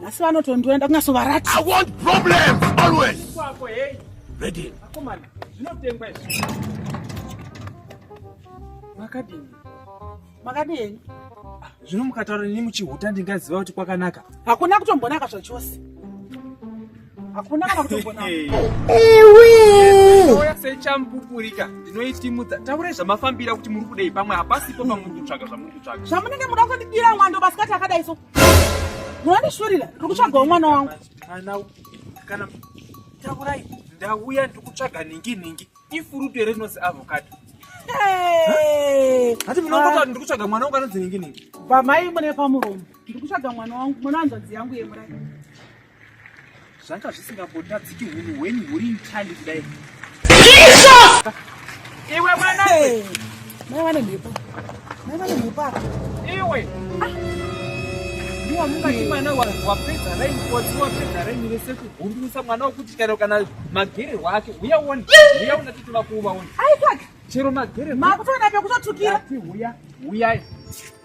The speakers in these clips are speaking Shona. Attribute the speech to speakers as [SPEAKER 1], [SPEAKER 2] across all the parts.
[SPEAKER 1] nhasi vanotondiona kunyasovarati i want problems always kwako hey ready akomana zvinotengwa izvi makadini makadini ah, zvino mukataura nini muchihuta ndingaziva kuti kwakanaka hakuna kutombonaka zvachose hakuna kana kutombonaka ewe sechampupurika ndinoitimudza taurai zvamafambira kuti muri kudei pamwe hapasipo pamuri kutsvaga zvamuri kutsvaga zvamunenge muda kundidira mwando masikati akadai so Munondishurira, ndiri kutsvagawo mwana wangu. Kana kana takurai ndauya ndiri kutsvaga nhingi nhingi. Ifurutu here rinonzi avocado? Hati munongota ndiri kutsvaga mwana wangu anonzi nhingi nhingi. Bamai mune pamuromo. Ndiri kutsvaga mwana wangu, mwana wanzvadzi yangu yemurai. zvanga zvisingambotadziki hunhu hwenyu huri mtandi kudai iwe mwana mai vane mhepo mai vane mhepo apa iwe ndiwamungati mwana wapedza raini kotsi wapedza raini vese kugundurisa mwana wokuti chero kana magererwa ake uya uone uya unatiti vakuuvaona chero magererwa makutoona pekutotukira uya uyai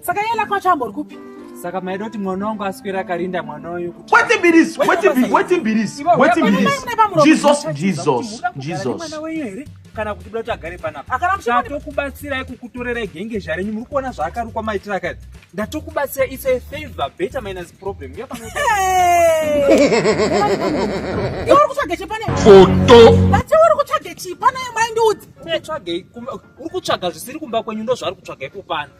[SPEAKER 1] saka iye lako acho ambori kupi saka maida kuti mwana wangu aswera akarinda mwana uyu kutiwete mbirisi wete mbirisi wete mbirisi jesus jesus jesus kana kuti buda kuti agare panapa ndatokubatsirai kukutorerai genge zvarenyu muri kuona zvaakarukwa maitira akati ndatokubatsira its a favor better minus problem uri kutsvage chipane foto uri kutsvage chipane maindiudzi tsvagei uri kutsvaga zvisiri kumba kwenyu ndozvaari kutsvaga ipo pano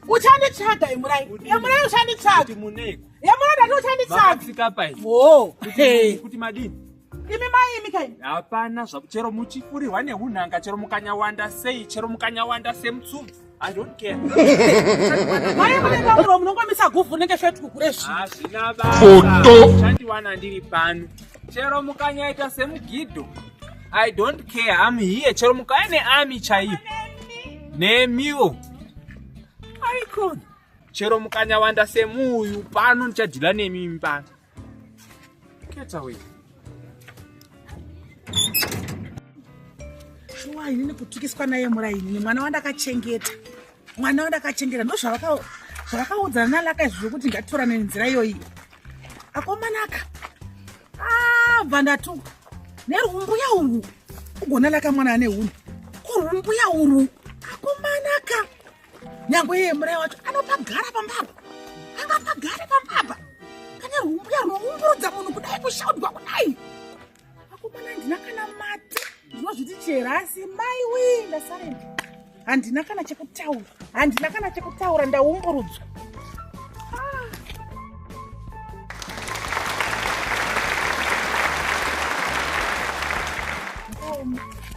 [SPEAKER 1] uchanditsvaga emurai emurai uchanditsvaga emurai ndati uchanditsvaga imi mai imi kai hapana zvaku chero muchifurirwa neunhanga chero mukanyawanda sei chero mukanyawanda semutsubvu munongomisa guvhu unenge feti kukureshandiwana ndiri pano chero mukanyaita semugido i don't care am here chero mukaya neami chaiyo nemiwo aikona chero mukanyawanda semuuyu pano ndichadhila nemimi pano Get away. Shuwa ini nekutukiswa naye muraini mwana wandakachengeta mwana wandakachengeta ndo zvavakaudzana nalaka izvi zvokuti ngatitorane nenzira iyoyi akomanaka ah, bva ndatuka nerumbuya urwu ugona laka mwana ane huni kurumbuya urwu akomanaka nyangwe iye murai wacho anopagara pambapa angapagare pambapa pane humbuya rwoumburudza munhu kudai kushaudwa kudai akomana handina kana mati ndinozviti chera asi mai wii ndasarenda handina kana chekutaura handina kana chekutaura ndaumburudzwa